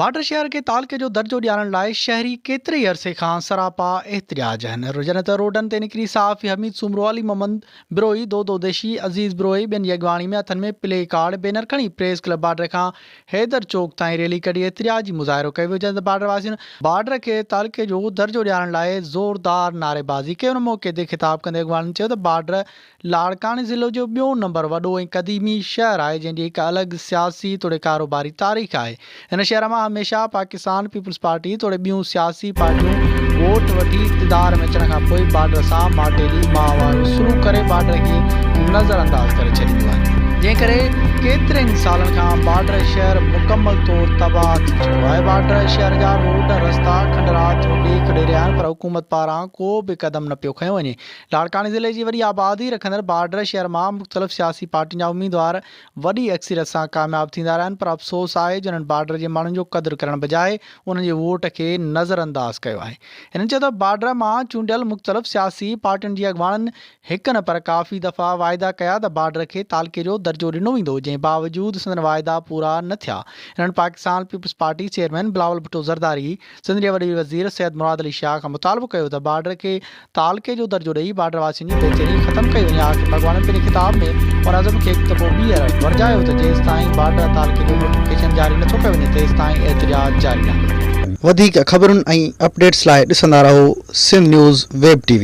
Border شهر کي تعلقي جو درجو ڏيارڻ لاء شهري ڪيتري عرصي کان سراپا احتجاج هن رجن ته روڊن تي نڪري صحافي حميد سومرو، علي محمد بروهي، دودو دشي، عزيز بروهي ٻين جي اڳواڻي ۾ هٿن ۾ پلي ڪارڊ، بينر کڻي پريس ڪلب بارڊر کان حيدر چوڪ تائين ريلي ڪڍي احتجاجي مظاهرو ڪيو ويو جڏهن ته بارڊر واسين بارڊر کي تعلقي جو درجو ڏيارڻ لاء زوردار نعريبازي ڪئي ان موقعي تي خطاب ڪندي اڳواڻن چيو ته بارڊر لاڙڪاڻي ضلعو جو ٻيون نمبر وڏو ۽ قديمي شهر آهي جنهن جي هڪ الڳ سياسي توڙي ڪاروباري تاريخ آهي. هن شهر مان هميشه پاڪستان پيپلز پارٽي توڙي ٻيون سياسي پارٽيون ووٽ وٺي اقتدار ۾ اچڻ کان پوء بارڊر سان ماٽيلي ماهوارو سلوڪ ڪري بارڊر کي نظر انداز ڪري ڇڏينديون آهن. جنهن ڪري ڪيترن سالن کان بارڊر شهر مڪمل طور تباهه ٿي چڪو آهي. بارڊر شهر جا روڊ رستا کنڊرات جو ڏيک ڏئي رهيا آهن پر حڪومت پاران ڪو به قدم نه پيو کنيو وڃي. لاڙڪاڻي ضلعي جي وڏي آبادي رکندڙ بارڊر شهر مان مختلف سياسي پارٽين جا اميدوار وڏي اڪثريت سان ڪامياب ٿيندا رهيا آهن پر افسوس آهي جو انهن بارڊر جي ماڻهن جو قدر ڪرڻ بجاء انهن جي ووٽ کي نظرانداز ڪيو آهي هنن چيو ته بارڊر مان چونڊيل مختلف سياسي پارٽين جي اڳواڻن هڪ نه پر ڪافي دفعا واعدا ڪيا ته بارڊر کي تعلقي جو درجو ڏنو ويندو جنهن باوجود سندن واعدا پورا نه ٿيا انهن Pakistan peoples party chairman Bilawal Bhutto Zardari Sindh جي وڏي وزير سيد مراد علي شاهه کان مطالبو ڪيو ته بارڊر کي تعلقي جو درجو ڏئي بارڊر واسين جي بي چيني ختم ڪئي وڃي آخر ڀڳواڻن پنهنجي خطاب ۾ ان عزم کي هڪ دفعو ٻيهر ورجايو ته جيستائين بارڊر تعلقي جو نوٽيفڪيشن جاري نٿو ڪيو وڃي تيستائين احتجاج جاري رهندو. وڌيڪ خبرن ۽ اپڊيٽس لاء ڏسندا رهو سنڌ نيوز ويب TV.